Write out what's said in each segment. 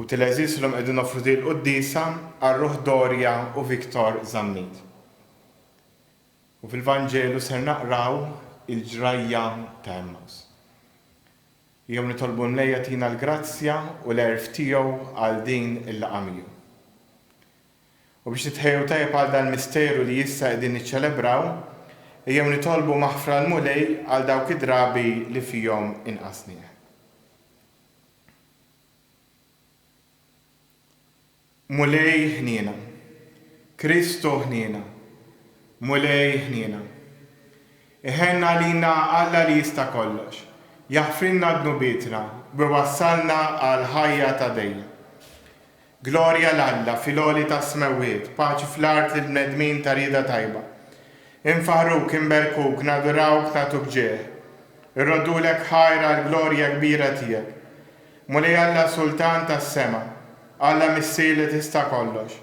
Ħuti l-għeżież illum qegħdin noffru din il-quddiesa għar-ruħ Doria u Victor Zammit. U fil-Vanġelu ser naqraw il-ġrajja ta' Għemmaws. Jew nitolbu l-Mulej jagħtina l-grazzja u l-għerf tiegħu għal din il-laqgħa miegħu. U biex nitħejjew tajjeb għal dan il-misteru li issa qegħdin niċċelebraw, ejjew nitolbu maħfra l-Mulej għal dawk id-drabi li fihom inqasnieh. Mulej ħniena. Kristu ħniena. Mulej ħniena. Iħenn għalina Alla li jista' kollox, jaħfrilna dnubietna u jwassalna għal ħajja ta' dejjem. Glorja 'l Alla fil-għoli tas-smewwiet, paċi fl-art lill-bnedmin ta' rieda tajba. Infaħruk, inberkuk, nadurawk, nagħtuk ġieħ. Irroddulek ħajr għall-glorja kbira tiegħek. Mulej Alla Sultan tas-sema, Alla Missier li tista' kollox,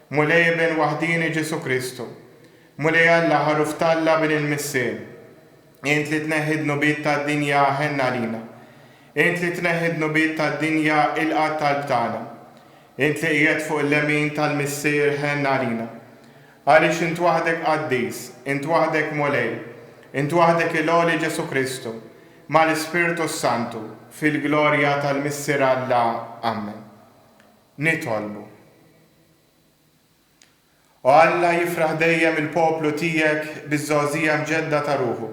Mulej Iben waħdieni Ġesù Kristu, Mulej Alla Ħaruf t'Alla Bin il-Missier, Int li tneħħi d-dnubiet tad-dinja ħenn għalina. Int li tneħħi d-dnubiet tad-dinja ilqa' t-talb tagħna. Int li qiegħed fuq il-lemin tal-Missier ħenn għalina. Għaliex int waħdek qaddis, int waħdek Mulej, int waħdek il-Għoli Ġesù Kristu, mal-Ispirtu s-Santu, fil-glorja tal-Missier Alla. Ammen. Nitolbu. O Alla, jifraħ dejjem il-poplu tiegħek biż-żgħożija mġedda ta' ruħu,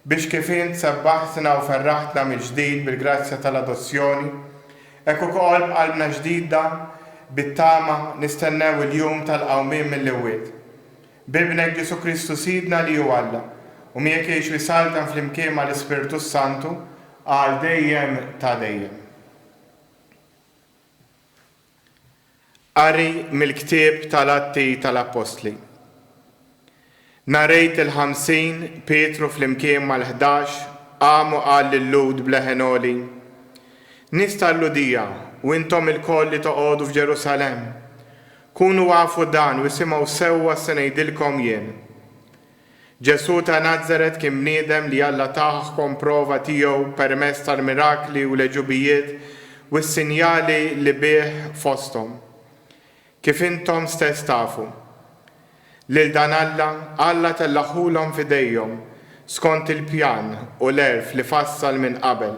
biex kif int sebbaħtna u ferraħtna mill-ġdid bil-grazzja tal-adozzjoni, hekk ukoll b'qalbna ġdida bit-tama nistennew il-jum tal-qawmien mill-imwiet. B'Ibnek Ġesù Kristu Sidna li hu Alla, u miegħek jgħix u jsaltan flimkien mal-Ispirtu s-Santu, għal dejjem ta' dejjem. Qari mill-ktieb tal-Atti tal-Appostli Nhar Għid il-Ħamsin, Pietru flimkien mal-Ħdax qam u qal lil-Lhud b'leħen għoli, Nies tal-Lhudija u intom ilkoll li toqogħdu f'Ġerusalemm, kunu afu dan u isimgħu sewwa s-se ngħidilkom jien. Ġesù ta' Nazaret kien bniedem li Alla tah kon prova tiegħu permezz tal-mirakli u l-għeġubijiet u s-sinjali li bih fosthom. Kif intom stess tafu. Lil dan Alla, Alla tellagħhulhom f'idejhom skont il-pjan u l-għerf li fassal minn qabel.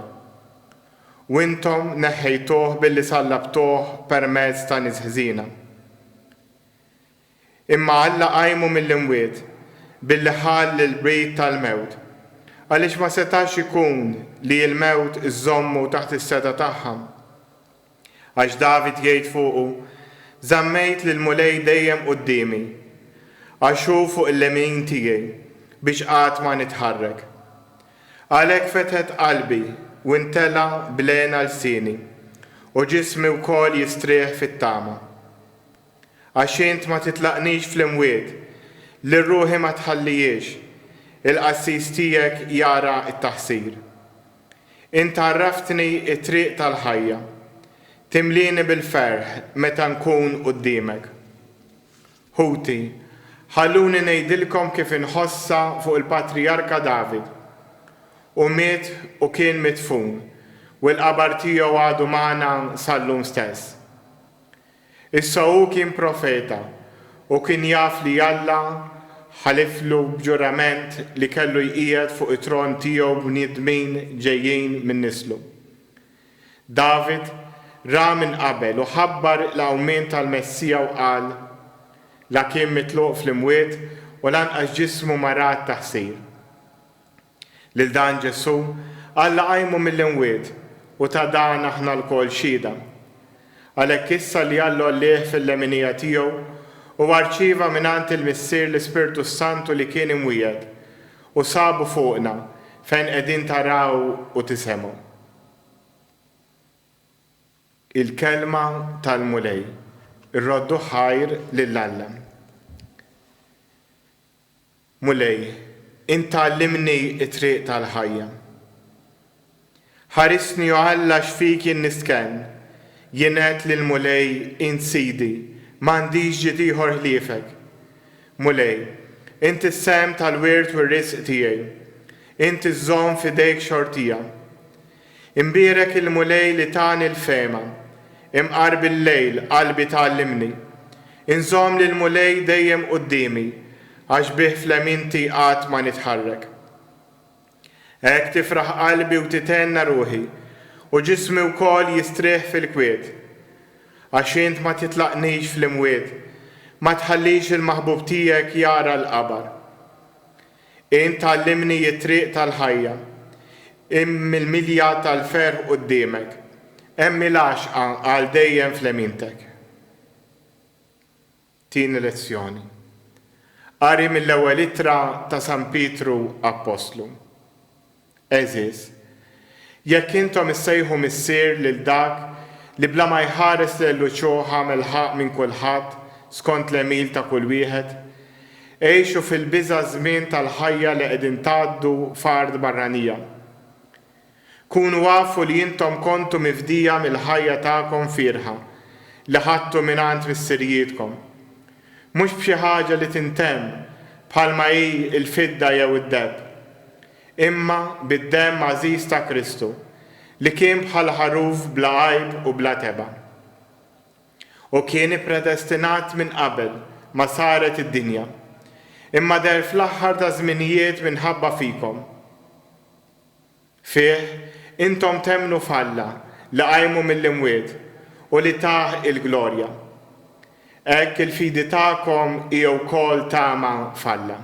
U intom neħħejtuh billi sallabtuh permezz ta' nies ħżiena. Imma Alla qajmu mill-imwiet, billi ħall l-qbid tal-mewt, għaliex ma setax ikun li l-mewt iżżommu taħt is-setgħa tagħha. Għax David jgħid fuqu, Żammejt lill-Mulej dejjem quddiemi, għax hu fuq il-lemin tiegħi, biex qatt ma nitħarrek. Għalhekk fetħet qalbi u ntela' bl-hena lsieni, u ġismi wkoll jistrieħ fit-tama. Għax int ma titlaqnix fl-imwiet, lil ruħi ma tħallihiex, il-qassis tiegħek jara t-taħsir. Int għarraftni t-triq tal-ħajja, timlieni bil-ferħ meta nkun quddiemek. Ħuti, ħalluni ngħidilkom kif inħossha fuq il-patrijarka David. Hu miet u kien midfun, u l-qabar tiegħu għadu magħna sal-lum stess. Issa hu kien profeta u kien jaf li Alla ħaliflu b'ġurament li kellu jqiegħed fuq it-tron tiegħu bniedmin ġejjin minn nislu. David ra minn qabel u ħabbar il-qawmien tal-Messija u qal, La kien mitluq fl-imwiet u lanqas ġismu marat ta' ħsir. Lil dan Ġesù, Alla qajmu mill-imwiet, u ta' dan aħna lkoll xhieda. Għalhekk issa li Alla għollieh fil-leminija tiegħu, huwa rċieva mingħand il-Missier l-Ispirtu s-Santu li kien imwiegħed, u sabu fuqna, fejn qegħdin taraw u tisemgħu. Il-Kelma tal-Mulej. Irroddu ħajr lil Alla. Mulej, int għallimni t-triq tal-ħajja. Ħarisni o Alla għax fik jien nistkenn. Jien għedt lill-Mulej, Int Sidi, m'għandix ġid ieħor ħliefek. Mulej, int is-sehem tal-wirt u r-risq tiegħi. Int iżżomm f'idejk xortija. Imbierek il-Mulej li tani l-fehma, imqar bil-lejl qalbi tgħallimni. Inżomm lill-Mulej dejjem quddiemi, għax bih fl-għemilti qatt ma nitħarrek. Hekk tifraħ qalbi u tithenna ruħi, u ġismi wkoll jistrieħ fil-kwiet. Għax int ma titlaqnix fl-imwiet, ma tħallix il-maħbub tiegħek jara l-qabar. Int tgħallimni t-triq tal-ħajja. Hemm il-milja tal-ferħ quddiemek. Hemm il-għaxqa għal dejjem f'lemintek. Tieni lezzjoni. Qari mill-Ewwel Ittra ta' San Pietru Appostlu. Għeżież, jekk intom issejħu Missier lil dak li bla ma jħares lejn l-uċuħ għamel ħaqq minn kulħadd skont l-għemil ta' kull wieħed, għixu fil-biża' ż-żmien tal-ħajja li qegħdin tgħaddu f'art barranija. Kunu afu li intom kontu mifdija mill-ħajja tagħkom fierħa li ħadtu mingħand missirijietkom. Mhux b'xi ħaġa li tintemm bħalma hi l-fidda jew id-deheb, imma bid-demm għażiż ta' Kristu, li kien bħal ħaruf bla għajb u bla tebgħa. Hu kien ippreddestinat minn qabel ma saret id-dinja, imma deher fl-aħħar taż-żminijiet minħabba fikom. Fih, intom temmnu f'Alla li qajmu mill-imwiet u li tah il-glorja. Hekk il-fidi tagħkom hi wkoll tama f'Alla.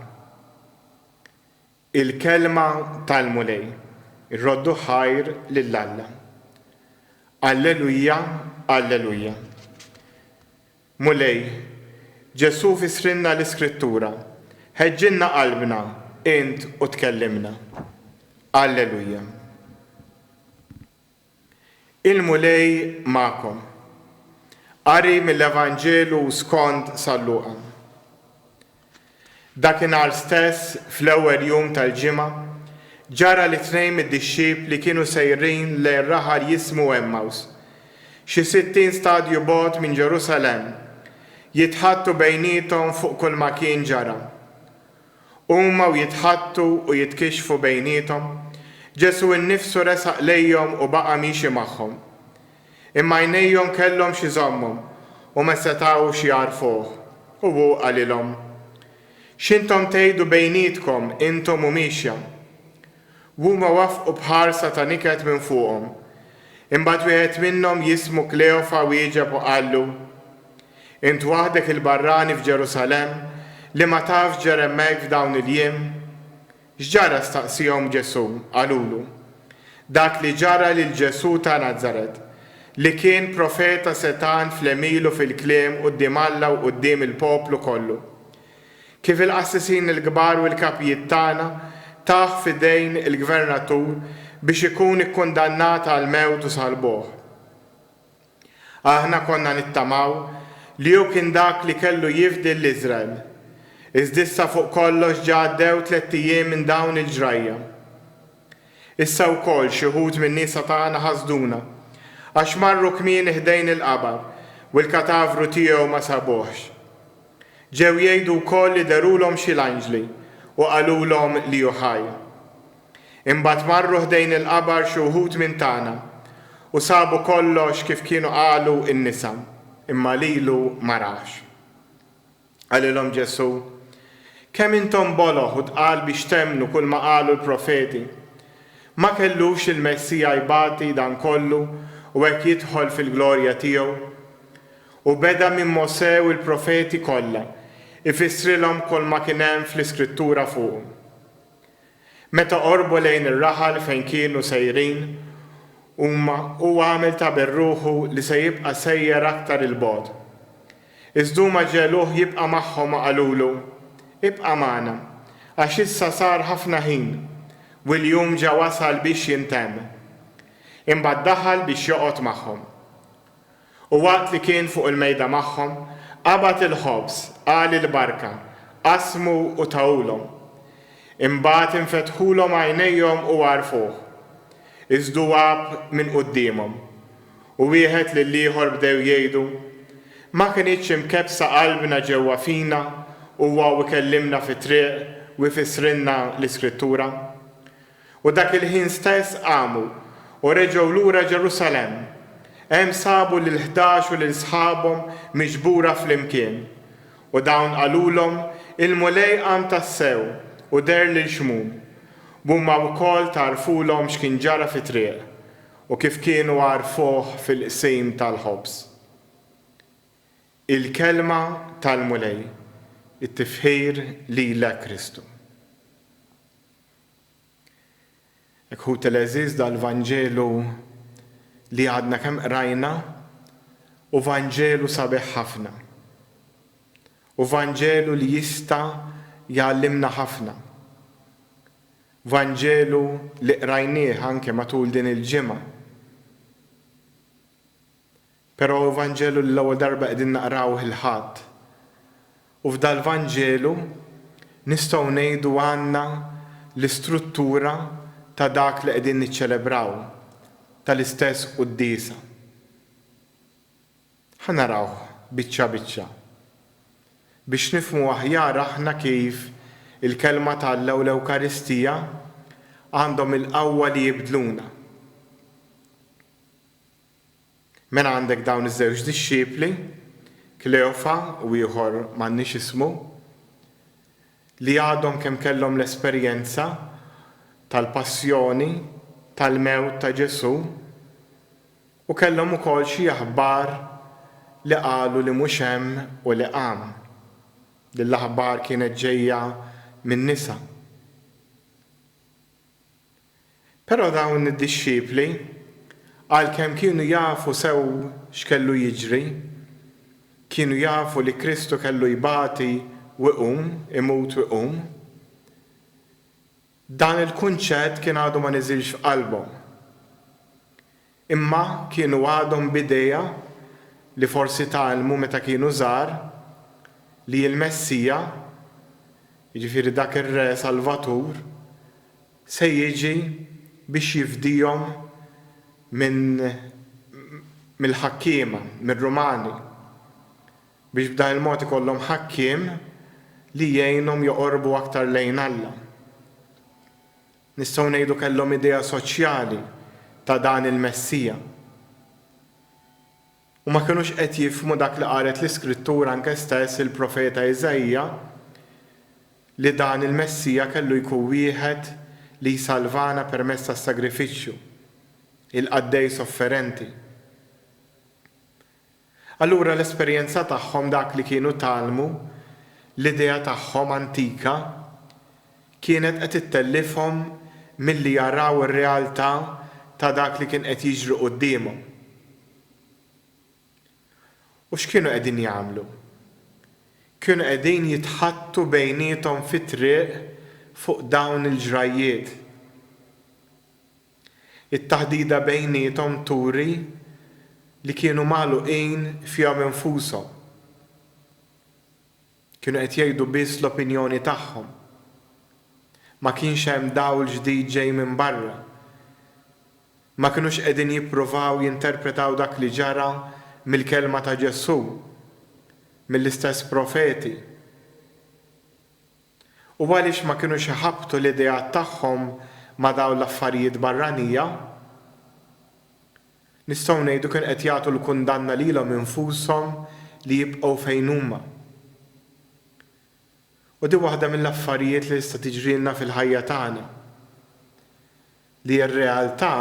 Il-kelma tal-Mulej. Roddu ħajr lil Alla. Alleluja, alleluja. Mulej, Ġesù fissrilna l-Iskrittura, ħeġġilna qalbna int u tkellimna. Alleluja. Il-Mulej magħkom. Qari mill-Evanġelu skond San Luqa. Dakinhar stess, fl-ewwel jum tal-ġimgħa, ġara li tnejn mid-dixxipli kienu sejrin lejn raħal jismu Għemmaws, xi sittin stadju bogħod minn Ġerusalemm, jitħaddtu bejniethom fuq kulma kien ġara. Huma u jitħaddtu u jitkixxfu bejniethom, Ġesù nnifsu resaq lejhom u baqa' miexi magħhom. Imma għajnejhom kellhom x'iżommu, u ma setgħux jagħrfuh. U hu qalilhom, X'intom tgħidu bejnietkom intom u miexja? U huma waffqu b'ħarsa ta' niket minn fuqhom. Imbagħad wieħed minnhom jismu Kleofa wieġeb u qallu, Int waħdek il-barrani f'Ġerusalemm li ma tafx ġara hemmhekk f'dawn il-jiem? X'ġara staqsiehom Ġesù. Qalulu, Dak li ġara lil Ġesù ta' Nazaret, li kien profeta setgħan fl-għemil u fil-kliem quddiem Alla u quddiem il-poplu kollu. Kif il-qassisin il-kbar u l-kapijiet tagħna tah f'idejn il-gvernatur biex ikun ikkundannat għall-mewt u salbuh. Aħna konna nittamaw li hu kien dak li kellu jifdi lil Iżrael. Iżd'issa fuq kollox ġa għaddew tlett ijiem minn dawn il-ġrajja. Issa wkoll xi wħud min-nisa tagħna ħasduna għax marru kmieni ħdejn il-qabar u l-katavru tiegħu ma sabuhx. Ġew jgħidu wkoll li derulhom xi l-anġli u qalulhom li hu ħaj. Imbagħad marru ħdejn il-qabar xi wħud minn tagħna u sabu kollox kif kienu qalu n-nisa, imma lilu ma raħx. Qalilhom Ġesù, Kemm intom boloh u tqal biex temmnu kulma qalu l-profeti! Ma kellux il-Messija jbati dan kollu u hekk jidħol fil-glorja tiegħu? U beda minn Mosè u l-profeti kollha, ifissrilhom kulma kien hemm fl-Iskrittura fuqu. Meta qorbu lejn ir-raħal fejn kienu sejrin huma, hu għamel ta' bir-ruħu li se jibqa' sejjer aktar 'il bogħod. Iżd huma ġegħluh jibqa' magħhom u qalulu, Ibqa' magħna, għax issa sar ħafna ħin, u l-jum ġa wasal biex jintemm. Imbagħad daħal biex joqgħod magħhom. U waqt li kien fuq il-mejda magħhom, qabad il-ħobż, qal il-barka, qasmu u tahulhom. Imbagħad infetħulhom għajnejhom u għarfuh. Iż-żduwab minn quddiemhom, u wieħed lill-ieħor bdew jgħidu, Ma kinitx imkebbsa qalbna ġewwa fina huwa u kellimna fit-triq u jfissrilna l-Iskrittura? U dak il-ħin stess qamu, u reġgħu lura Ġerusalemm. Hemm sabu lill-ħdax u lil sħabhom miġbura flimkien. U dawn qalulhom, Il-Mulej qam tassew, u deher lil Xmun. B'huma wkoll tgħarrfulhom x'kien ġara fit-triq, u kif kienu għarrfuh fil-qsim tal-ħobż. Il-Kelma tal-Mulej. It-tifħir lilek Kristu. Iħuti l-għeżież dal-Vanġelu li għadna kemm qrajna hu Vanġelu sabiħ ħafna. Hu Vanġelu li jista' jgħallimna ħafna. Vanġelu li qrajnieh anke matul din il-ġimgħa. Però hu Vanġelu li l-ewwel darba qegħdin naqrawh il-Ħadd. U f'dal-Vanġelu, nistgħu ngħidu għandna l-istruttura ta' dak li qegħdin niċċelebraw, tal-istess quddiesa. Ħa narawh biċċa biċċa, biex nifhmu aħjar aħna kif il-Kelma ta' Alla u l-Ewkaristija għandhom il-qawwa li jibdluna. Mela għandek dawn iż-żewġ dixxipli, Kleofa u ieħor m'għandniex ismu, li għadhom kemm kellhom l-esperjenza tal-passjoni, tal-mewt ta' Ġesù, u kellhom ukoll xi aħbar li qalu li mhux hemm u li qam. Din l-aħbar kienet ġejja min-nisa. Però dawn id-dixxipli, għalkemm kienu jafu sew x'kellu jiġri, kienu jafu li Kristu kellu jbati u jqum, imut u jqum, dan il-kunċett kien għadu ma niżilx f'qalbhom. Imma kienu għadhom b'idea, li forsi tgħallmu meta kienu żgħar, li l-Messija, jiġifieri dak ir-Re Salvatur, se jiġi biex jifdihom minn mill-ħakkiema, mir-Rumani, biex b'dan il-mod ikollhom ħakkiem li jgħinhom joqorbu aktar lejn Alla. Nistgħu ngħidu kellhom idea soċjali ta' dan il-Messija. U ma kinux qed jifhmu dak li qalet l-Iskrittura anke stess il-profeta Iżaija li dan il-Messija kellu jkun wieħed li jsalvana permezz tas-sagrifiċċju, il-qaddej sofferenti. Allura l-esperjenza tagħhom, dak li kienu tgħallmu, l-idea tagħhom antika, kienet qed ittellifhom milli jaraw ir-realtà ta' dak li kien qed jiġri quddiemhom. U x'kienu qegħdin jagħmlu? Kienu qegħdin jitħaddtu bejniethom fit-triq fuq dawn il-ġrajjiet. It-taħdida bejniethom turi li kienu magħluqin fihom infushom. Kienu qed jgħidu biss l-opinjoni tagħhom. Ma kienx hemm dawl ġdid ġej minn barra. Ma kinux qegħdin jippruvaw jinterpretaw dak li ġara mill-kelma ta' Ġesù, mill-istess profeti. u għaliex ma kinux iħabbtu l-ideat tagħhom ma' dawn l-affarijiet barranija? Nistgħu ngħidu kien qed jagħtu l-kundanna lilhom infushom li jibqgħu fejn huma. U din waħda mill-affarijiet li tista' tiġrilna fil-ħajja tagħna. Li r-realtà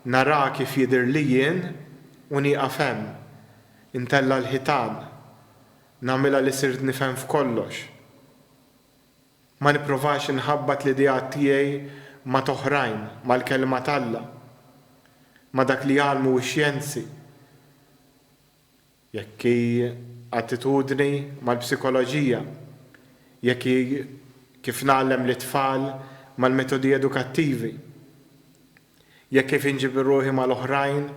naraa kif jidhirli jien u nieqaf hemm. Intella' l-ħitan. Nagħmilha li sirt nifhem f'kollox. Ma nipprovax inħabbat l-ideat tiegħi ma' t'oħrajn, mal-Kelma t'Alla, ma' dak li jgħallmu x-xjenzi. jekk hi attitudni mal-psikoloġija, jekk hi kif ngħallem lit-tfal mal-metodi edukattivi, jekk kif inġibir ruħi mal-oħrajn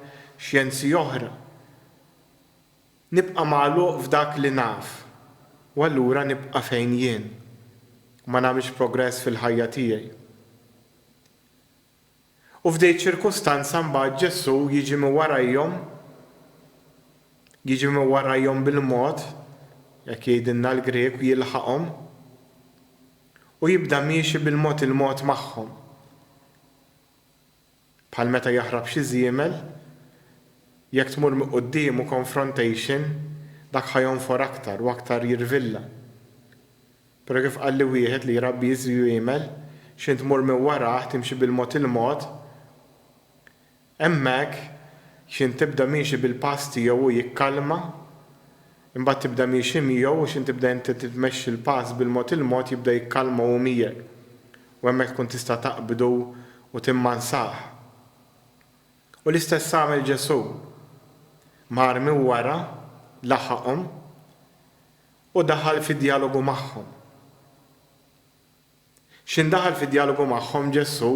xjenzi oħra. Nibqa' magħluq f'dak li naf u allura nibqa' fejn jien u ma nagħmilx progress fil-ħajja tiegħi. U f'dei ċirkustanza mbagħad Ġesù jiġi minn warajhom, jiġi minn warajhom bil-mod, hekk jgħidilna l-Grieg, u jilħaqhom, u jibda miexi bil-mod il-mod magħhom. Bħal meta jaħrab xi żiemel, jekk tmur minn quddiemu confrontation, dak ħa jonfor aktar u aktar jirvilla. Pero kif qalli wieħed li jrabbi jiżri u jgħmel, x'int tmur minn warah, timxi bil-mod il-mod, hemmhekk x'int tibda miexi bil-pass tiegħu hu jikkalma, imbagħad tibda miexi miegħu u x'int tibda inti titmexxi l-pass bil-mod il-mod jibda jikkalma hu miegħek u hemmhekk tkun tista' taqbdu u timmansah. U l-istess għamel Ġesu'. Mar minn wara, laħaqhom, U daħal fi djalogu magħhom. X'ħin daħal fi djalogu magħhom, Ġesù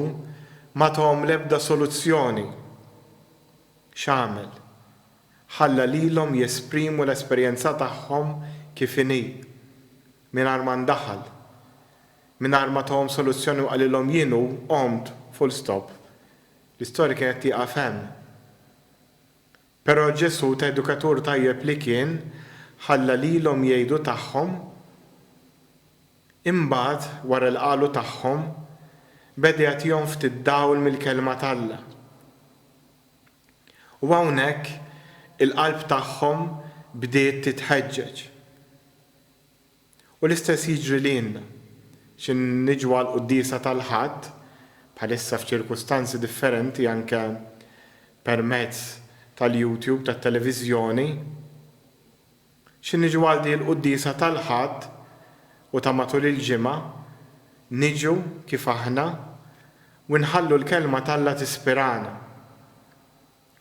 ma tahom l-ebda soluzzjoni. X'għamel? Ħalla lilhom jesprimu l-esperjenza tagħhom kif inhi, mingħajr ma ndaħal, mingħajr ma tahom soluzzjoni u qalilhom jien hu, qomt, full stop. L-istorja kienet tieqaf hemm. Però Ġesù, ta' edukatur tajjeb li kien, ħalla lilhom jgħidu tagħhom. Imbagħad, wara li qalu tagħhom, beda jagħtihom ftit dawl mill-Kelma t'Alla. U hawnhekk il-qalb tagħhom bdiet titħeġġeġ. U l-istess jiġri lilna. Xi niġu għall-quddiesa tal-Ħadd, bħalissa f'ċirkustanzi differenti anke permezz tal-YouTube, tat-televiżjoni, xi niġu għal din il-quddiesa tal-Ħadd u ta' matul il-ġimgħa, niġu kif aħna u nħallu l-Kelma t'Alla tispirana.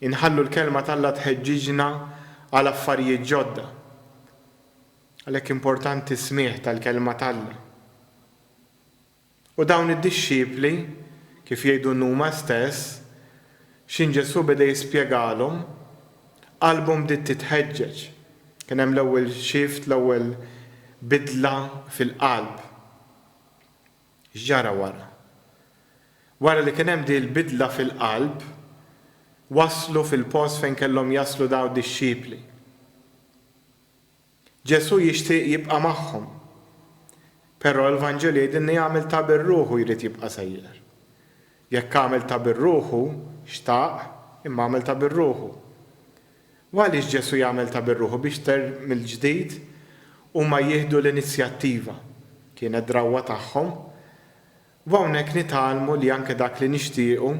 Inħallu l-Kelma t'Alla tħeġġiġna għal affarijiet ġodda. Għalhekk importanti s-smigħ tal-Kelma t'Alla. U dawn id-dixxipli, kif jgħidu nhuma stess, x'inhi Ġesù beda jispjegalhom? Qalbhom bdiet titħeġġeġ. Kien hemm l-ewwel shift, l-ewwel bidla fil-qalb. X'ġara wara? Wara li kien hemm din il-bidla fil-qalb, waslu fil-post fejn kellhom jaslu dawn id-dixxipli. Ġesù jixtieq jibqa' magħhom, però l-Vanġelu jgħidilna jagħmel tagħbir ruħu jrid jibqa' sejjer. Jekk għamel tagħbir ruħu, xtaq, imma għamel tagħbir ruħu. U għaliex Ġesù jagħmel ta' bir-ruħu biex ter mill-ġdid huma jieħdu l-inizjattiva? Kienet drawwa tagħhom. U hawnhekk nitgħallmu li anke dak li nixtiequ,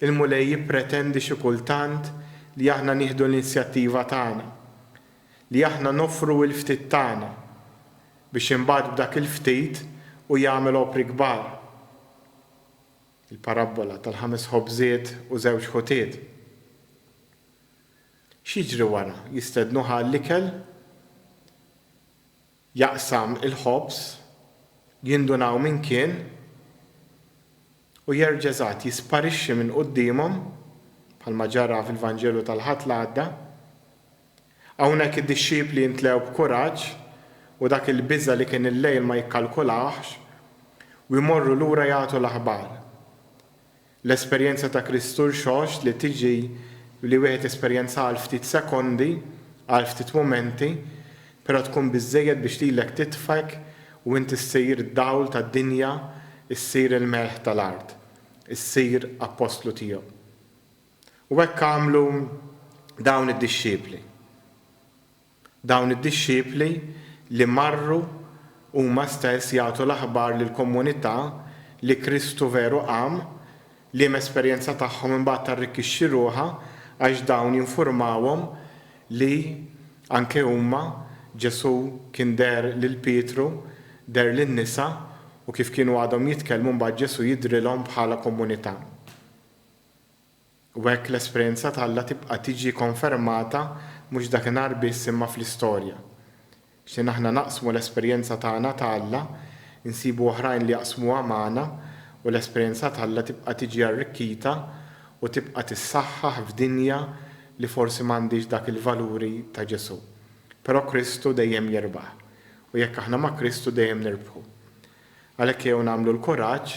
il-Mulej jippretendi xi kultant li aħna nieħdu l-inizjattiva tagħna, li aħna noffru l-ftit tagħna, biex imbagħad b'dak il-ftit hu jagħmel opri kbar. Il-parabbola tal-ħames ħobżiet u żewġ ħutiet. X'jiġri wara? Jistednuh għall-ikel, jaqsam il-ħobż, jindunaw min kien, u jerġa' eżatt jisparixxi minn quddiemhom, bħalma ġara fil-Vanġelu tal-Ħadd l-għadda. Hawnhekk id-dixxipli imtlew b'kuraġġ u dak il-biża' li kien il-lejl ma jikkalkulahx, u jmorru lura jagħtu l-aħbar. L-esperjenza ta' Kristu rxoxt li tiġi li wieħed jesperjenzaha għal ftit sekondi, għal ftit mumenti, però tkun biżżejjed biex lilek titfgħek u int issir d-dawl tad-dinja, issir il-melħ tal-art, issir appostlu tiegħu. U hekk għamlu dawn id-dixxipli. Dawn id-dixxipli li marru huma stess jagħtu l-aħbar lill-komunità li Kristu veru qam, liema esperjenza tagħhom imbagħad tarrikkixxi ruħha għax dawn jinfurmawhom li anke huma, Ġesù kien deher lil Pietru, deher lin-nisa u kif kienu għadhom jitkellmu mbagħad Ġesù jidhrilhom bħala komunità. U hekk l-esperjenza t'Alla tibqa' tiġi konfermata mhux dakinhar biss imma fl-istorja. X'ħin aħna naqsmu l-esperjenza tagħna ta' Alla, insibu oħrajn li jaqsmuha magħna u l-esperjenza t'Alla tibqa' tiġi arrikkita u tibqa' tissaħħaħ f'dinja li forsi m'għandhiex dak il-valuri ta' Ġesù. Però Kristu dejjem jirbaħ. U jekk aħna ma' Kristu dejjem nirbħu. Għalhekk ejjew nagħmlu l-kuraġġ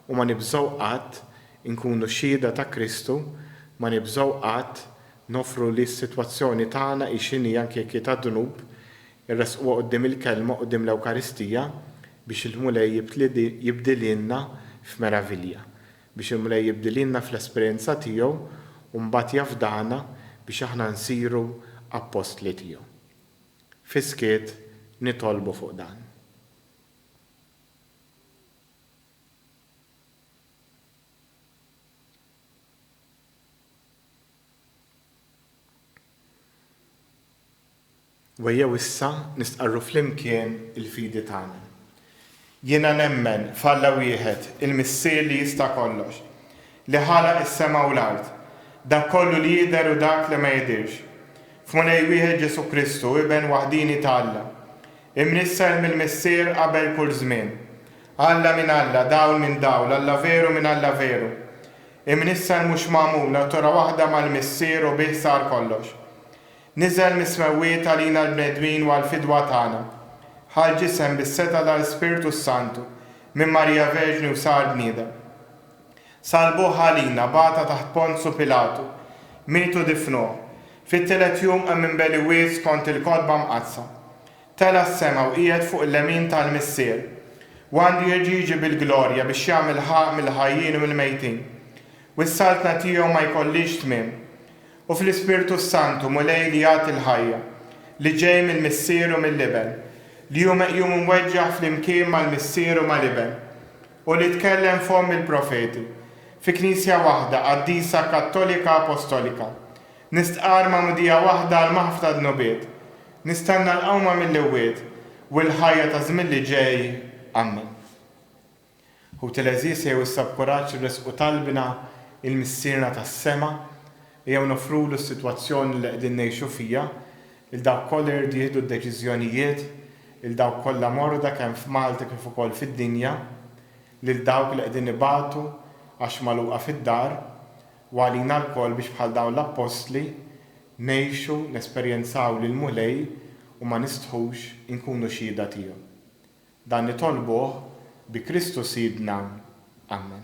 u ma nibżgħu qatt inkunu xhieda ta' Kristu, ma nibżgħu qatt noffru li s-sitwazzjoni tagħna hi x'inhi anke jekk hi ta' dnub, irressquha quddiem il-Kelma, quddiem l-Ewkaristija, biex il-Mulej jibdilhielna f'meravilja, biex il-Mulej jibdilhielna fl-esperjenza tiegħu u mbagħad jafdana biex aħna nsiru appostli tiegħu. Fis-skiet nitolbu fuq dan. Wejjew issa nistqarru flimkien il-fidi tagħna. Jiena nemmen f'Alla wieħed, il-Missier li jista' kollox, li ħalaq is-sema u l-art, dak kollu li jidher u dak li ma jidhirx, f'Mulej wieħed Ġesù Kristu, Iben waħdieni ta' Alla, Imnissel mill-Missier qabel kull żmien. Alla minn Alla, Dawl minn Dawl, Alla veru minn Alla veru. Imnissel mhux magħmul, Natura waħda mal-Missier u bih sar kollox. Niżel mis-smewwiet għalina l-bnedmin u għall-fidwa tagħna. Ħa l-ġisem bis-setgħa tal-Ispirtu s-Santu, minn Marija Verġni u sar bniedem. Salbuh għalina, bagħatha taħt Ponzu Pilatu, mietu difnuh, fit-tielet jum qam minn beli wied skont il-Kotba Mqaddsa. Tela' s-sema u qiegħed fuq il-lemin tal-Missier. U għandu jerġa' jiġi bil-glorja biex jagħmel ħaqq mill-ħajjin u mill-mejtin. U s-Saltna tiegħu ma jkollhiex tmiem. U fl-Ispirtu s-Santu, Mulej li jagħti l-ħajja, li ġej mill-Missier u mill-Iben, li hu meqjum u mweġġaħ flimkien mal-Missier u mal-Iben, u li tkellem f'fomm il-profeti, fi Knisja waħda qaddisa Kattolika Apostolika, nistqarr magħmudija waħda għal maħfra dnubiet, nistenna l-qawma mill-imwiet u l-ħajja taż-żmien li ġej. Ammen. Ħuti l-għeżież ejjew issa b'kuraġġ nressqu talbna il-Missierna tas-sema, Ejjew noffrulu s-sitwazzjoni li qegħdin ngħixu fiha, 'il dawk kollha jridu jieħdu d-deċiżjonijiet, 'il dawk kollha morda kemm f'Malta kif ukoll fid-dinja, lil dawk li qegħdin ibatu għax magħluqa fid-dar, u għalina lkoll biex bħal dawn l-appostli, ngħixu, nesperjenzaw lill-Mulej u ma nistħux inkunu xhieda tiegħu. Dan nitolbuh bi Kristu Sidna. Amen.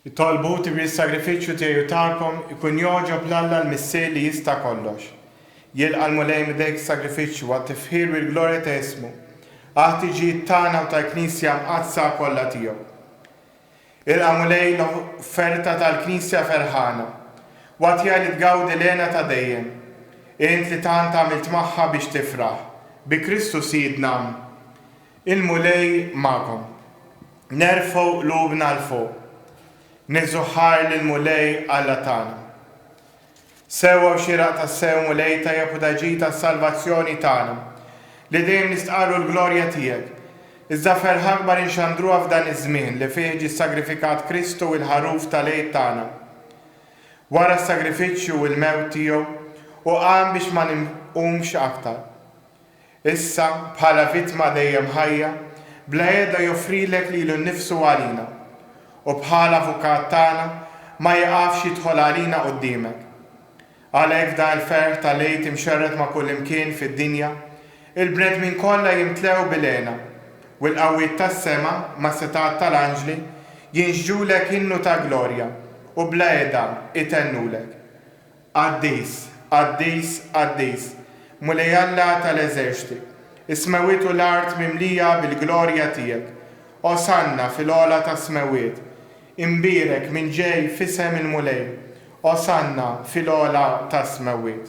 Itolbu, Tibni s-sagrifiċċju tiegħi u tagħkom ikun jogħġob 'l Alla l-Missier li jista' kollox. Jilqa' l-Mulej m'idejk s-sagrifiċċju għat-tifħir u l-glorja ta' ismu, għall-ħtiġijiet tagħna u tal-Knisja mqaddsa kollha tiegħu. Ilqa', Mulej, l-offerta tal-Knisja ferħana, u agħtiha li tgawdi l-hena ta' dejjem, int li tant għamilt magħha biex tifraħ. Bi Kristu Sidna. Il-Mulej magħkom. Nerfgħu qlubna 'l fuq. Nieħżu ħajr lill-Mulej Alla tagħna. Sewwa u xieraq tassew, Mulej tajjeb u ta' ġid għas-salvazzjoni tagħna, li dejjem nistqarru l-glorja tiegħek. Iżda ferħa akbar inxandruha f'dan iż-żmien li fih ġie ssagrifikat Kristu, il-Ħaruf tal-Għid tagħna. Wara s-sagrifiċċju u l-mewt tiegħu, hu qam biex ma nqumx aktar. Issa, bħala vittma dejjem ħajja, bla għeda joffrilek lilu nnifsu għalina, u bħala Avukat tagħna ma jiqafx jidħol għalina quddiemek. Għalhekk f'dan il-ferħ tal-Għid imxerred ma' kullimkien fid-dinja, il-bnedmin kollha jimtlew bil-hena, u l-qawwiet tas-sema mas-setgħat tal-anġli jinxġulek innu ta' glorja u bla għeda itennulek. Qaddis, qaddis, qaddis, Mulej Alla ta' l-eżerċti, is-smewwiet u l-art mimlija bil-glorja tiegħek. Osanna fil-għola tas-smewwiet. Imbierek min ġej f'isem il-Mulej. Osanna fil-għola tas-smewwiet.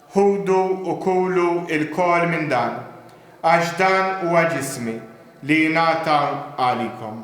Ħudu u kulu lkoll minn dan, għax dan huwa ġismi, li jingħata għalikom.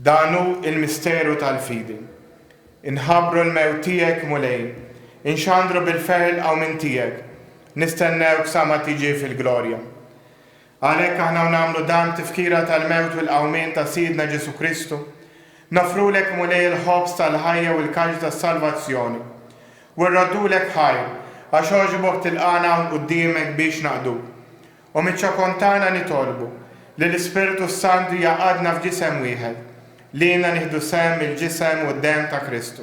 Dan hu l-misteru tal-fidi. Inħabbru l-mewt tiegħek, Mulej. Inxandru bil-ferħ il-qawmien tiegħek. Nistennewk sa ma tiġi fil-glorja. Għalhekk aħna nagħmlu dan b'tifkira tal-mewt u l-qawmien ta' Sidna Ġesù Kristu. Noffrulek, Mulej, il-ħobż tal-ħajja u l-kalċ tas-salvazzjon, u rroddulek ħajr, għax għoġbok tilqagħna hawn quddiemek biex naqduk. U miċ-ċokon tagħna nitolbu li l-Ispirtu s-Santu jgħaqqadna f'ġisem wieħed, lilna nieħdu sehem mill-ġisem u d-demm ta' Kristu.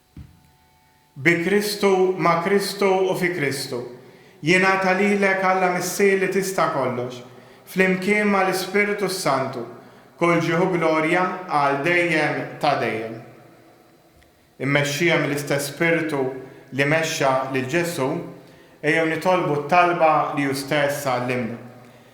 Bi Kristu, ma' Kristu u fi Kristu. Jingħata lilek, Alla Missier li tista' kollox, flimkien ma' l-Ispirtu s-Santu, kull ġieħ u glorja għal dejjem ta' dejjem. Immexxija mill-istess Spirtu li mexxa lil Ġesù, ejjew nitolbu t-talba li hu stess għallimna.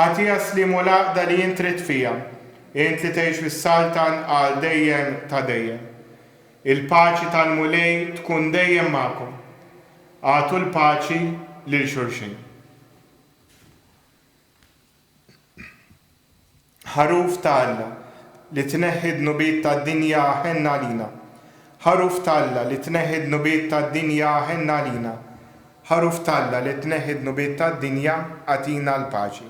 Agħtiha s-sliem u l-għaqda li int ridt fiha, int li tgħix fis-Saltan għal dejjem ta' dejjem. Il-paċi tal-Mulej tkun dejjem magħkom. Agħtu l-paċi lil xulxin. Ħaruf ta' Alla, li tneħħi d-dnubiet tad-dinja aħenn għalina. Ħaruf ta' Alla, li tneħħi d-dnubiet tad-dinja aħenn għalina. Ħaruf t'Alla li tneħħi d-dnubiet tad-dinja, agħtina l-paċi.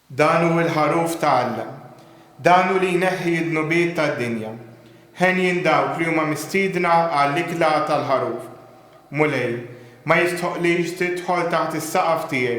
Dan hu l-ħaruf ta' Alla. Dan hu li jneħħi d-dnubiet tad-dinja. Henjin dawk li huma mistiedna għall-ikla tal-ħaruf. Mulej, ma jistħoqqlix tidħol taħt is-saqaf tiegħi.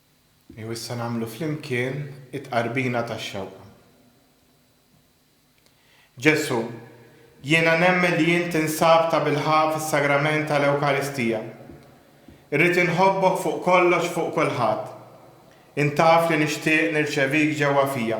Ejjew issa nagħmlu flimkien it-tqarbina tax-xewqa. Ġesù, jiena nemmen li int tinsab tabilħaqq fis-Sagrament tal-Ewkaristija. Irrid inħobbok fuq kollox fuq kulħadd. Int taf li nixtieq nirċevik ġewwa fija.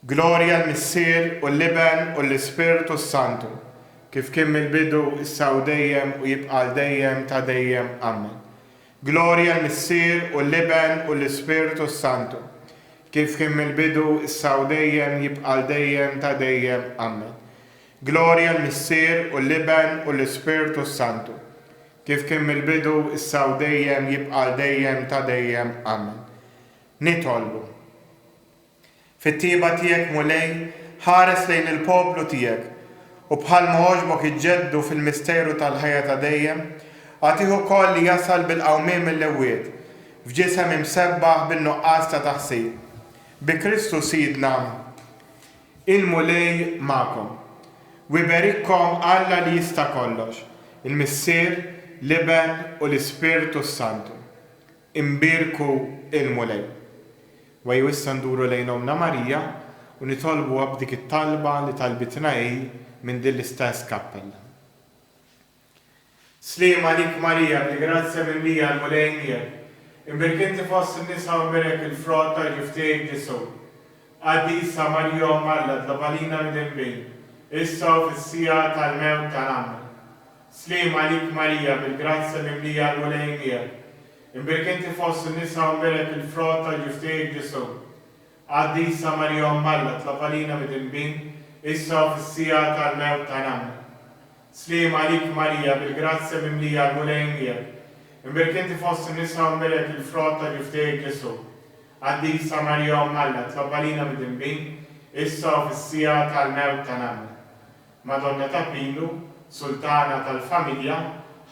Glorja l-Missier, u l-Iben, u l-Ispirtu s-Santu, kif kien mill-bidu, issa u dejjem, u jibqa' għal dejjem ta' dejjem. Amen. Glorja l-Missier, u l-Iben, u l-Ispirtu s-Santu, kif kien mill-bidu, issa u dejjem, jibqa' għal dejjem ta' dejjem. Amen. Glorja l-Missier, u l-Iben, u l-Ispirtu s-Santu, kif kien mill-bidu, issa u dejjem, jibqa' għal dejjem ta' dejjem. Amen. Nitolbu. Fit-tjieba tiegħek, Mulej, ħares lejn il-poplu tiegħek, u bħalma għoġbok iġġeddu fil-misteru tal-ħajja ta' dejjem, agħtih ukoll li jasal bil-qawmien mill-imwiet, f'ġisem imsebbaħ bin-nuqqas ta' taħsir. Bi Kristu Sidna. Il-Mulej magħkom. U iberikkom Alla li jista' kollox, il-Missier, l-Iben, u l-Ispirtu s-Santu. Imbierku l-Mulej. Wejju issa nduru lejn Ommna Marija u nitolbuha b'dik it-talba li talbitna hi minn din l-istess kappella. Sliem għalik Marija, bi grazzja mimlija l-Mulej miegħek, imbierk inti fost in-nisa u imbierek il-frott tal-ġuf tiegħek Ġesù. Qaddisa Marija Omm Alla, tlob għalina mdinbin, issa u fis-siegħa tal-mewt ta' Ommna. Sliem għalik Marija bil-grazzja mimlija l-Mulej miegħek, imbierk inti fost in-nisa u mbielek il-frott tal-ġuftejjek Ġesù. Qaddisa Marija Omm Alla tlab għalina midinbin issa u fis-siegħa tal-mewt ta' nagħmna. Sliem għalik Marija bil-grazzja mimlija l-Mulej miegħek, imbierk inti fost in-nisa u mbielek il-frott ta' ġuftejjek Ġesù. Qaddisa Marija Omm Alla tlab għalina midinbin issa u fis-siegħa tal-mewt ta' nagħmna. Madonna ta' Pinu, Sultana tal-Familja,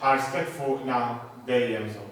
ħarstek fuqna dejjem żomm.